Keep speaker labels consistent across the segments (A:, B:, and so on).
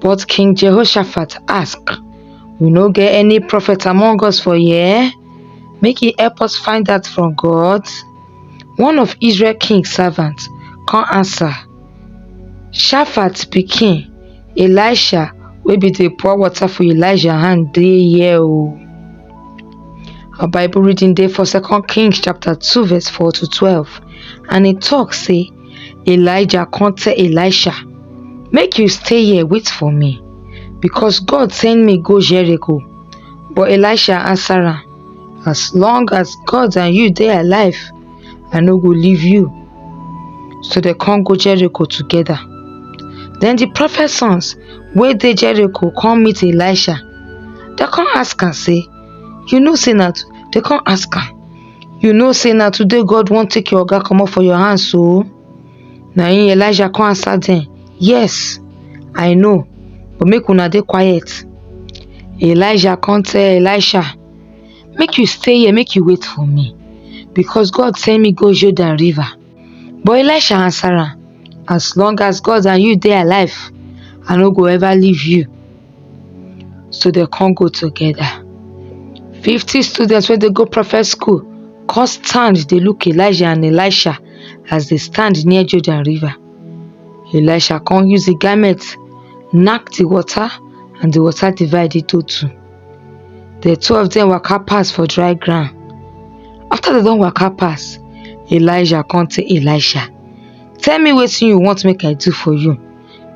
A: But King Jehoshaphat ask, We no get any prophet among us for here? Make he help us find that from God. One of Israel king servant come answer, Shaphat pikin, Elisha wey be the pour water for Elijah hand dey here o. Our Bible reading dey for Second Kings chapter two verse four to twelve, and e talk say, Elijah come tell Elisha, Make you stay here, wait for me, because God send me go Jericho. But Elisha answer am, As long as God and you dey alive, I no go leave you. So they come go Jericho together. Then the prophet sons wey dey Jericho come meet Elisha. They come ask am say, You know say na they come ask am You know say na today God wan take your oga comot for your hand so? Na im Elijah come answer them, Yes, I know, but make una dey quiet. Elijah come tell Elisha, Make you stay here, make you wait for me, because God send me go Jordan river. But Elisha answer am, As long as God and you dey alive, I no go ever leave you. So dem come go together. Fifty students wey dey go prophet school come stand dey look Elijah and Elisha as dey stand near Jordan river. Elisha come use the garment knack the water and the water divide into two. The two of them waka pass for dry ground. After they don waka pass, Elijah come tell Elisha, Tell me what you want make I do for you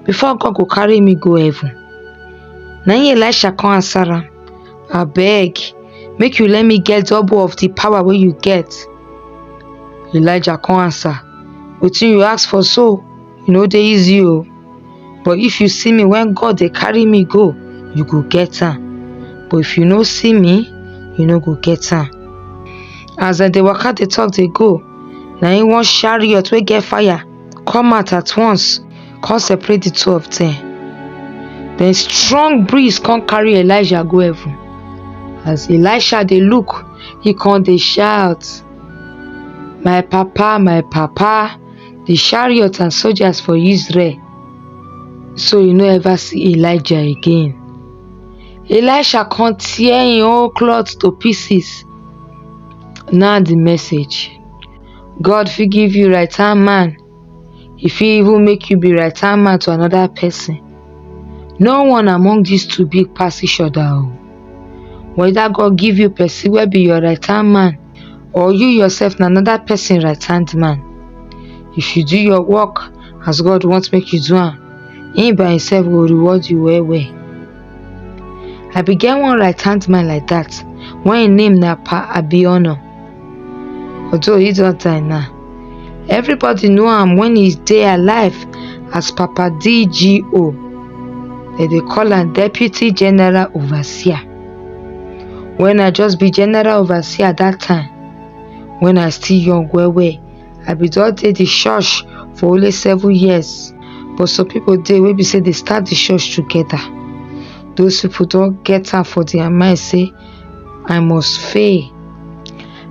A: before God go carry me go heaven. Na him Elisha come answer am, Abeg, make you let me get double of the power wey you get. Elijah come answer, Wetin you ask for so? e no dey easy o but if you see me when God dey carry me go you go get am but if you no see me you no go get am as dem dey waka dey talk dey go na im one chariot wey get fire come out at once come separate the two of them then strong breeze come carry Elijah go heaven as Elisha dey look he come dey shout my papa my papa di chariots and soldiers for Israel. So you no ever see Elijah again. Elisha come tear him whole cloth to pieces. Now the message. God fit give you right hand man. He fit even make you be right hand man to another person. No one among these two big pass each other. Whether God give you person will be your right hand man or you yourself na another person right hand man if you do your work as God want make you do am him by himself go reward you well well I be get one right hand man like that when him name na Pa Abiona although he don die now everybody know am when he dey alive as Papa DGO dem dey call am Deputy General Overseer when i just be general overseer that time when i still young well well i be don dey the church for only seven years but some people dey wey be say they start the church together those people don get am for their mind say i must fail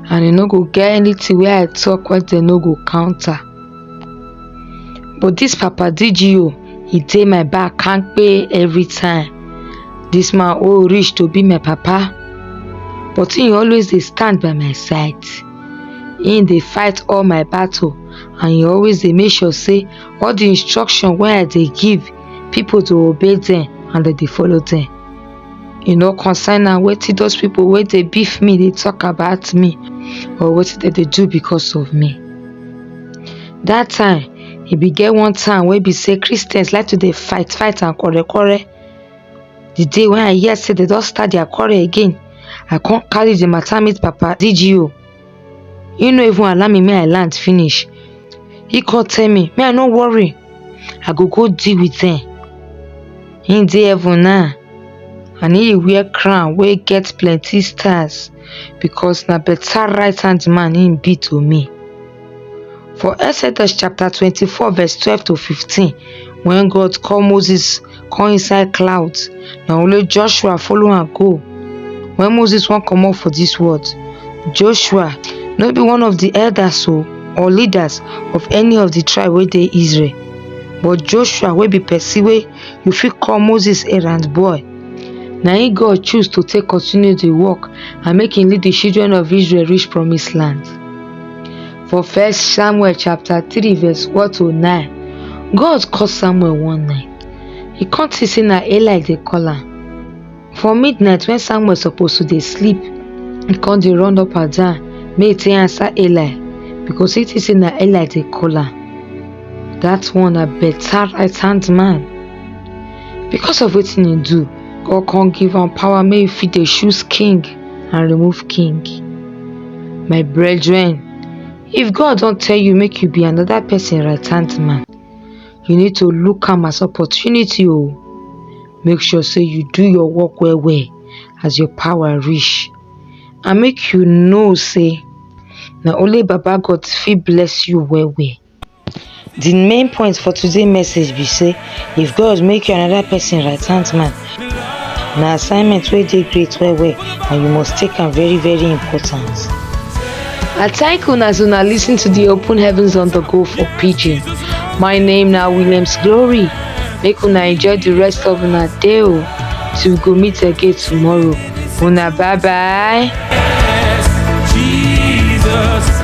A: and e no go get anything wey i talk wey dem no go counter But this Papa DGO, he dey my back can't pay every time. This man oh rich to be my papa, but he always dey stand by my side. He dey fight all my battle and he always dey make sure say all the instruction wey I dey give, people dey obey them and they dey follow them. e no concern am wetin those people wey dey beef me dey talk about me or wetin dem dey do because of me. That time e be get one time wey be say Christians like to dey fight fight and quarrel quarrel the day when I hear say they don start their quarrel again I come carry the matter meet papa DGO he no even allow me make i land finish he come tell me me i no worry i go go deal with them he dey heaven now and he wear crown wey get plenty stars because na better right hand man he be to me for exodus chapter 24 verse 12 to 15 when god call moses come inside cloud na only joshua follow am go when moses wan comot for dis world joshua no be one of di elders o or leaders of any of di tribe wey dey israel but joshua wey be pesin wey you fit call moses errand boy na im god choose to take continue di work and make im lead di children of israel reach promise land For First Samuel chapter 3 verse 1 to 9, God call Samuel one night. He come see say na Eli dey call am. For midnight when Samuel suppose to dey sleep, he come dey run up and down make he take answer Eli because he think say na Eli dey call am. That one na better right hand man. Because of wetin he do, God come give am power make he fit dey choose king and remove king. My brethren, if God don tell you make you be another person right hand man, you need to look am as opportunity o. Oh. Make sure say you do your work well well as your power reach and make you know say na only Baba God fit bless you well well. Di main point for today message be sey if God make you anoda pesin right hand man na assignment wey dey great well well and you must take am very very important. I thank una as una lis ten to di open heavens on the go for pidgin. My name na Williams Glory make una enjoy di rest of una day o till we go meet again tomorrow. una bye bye. Jesus.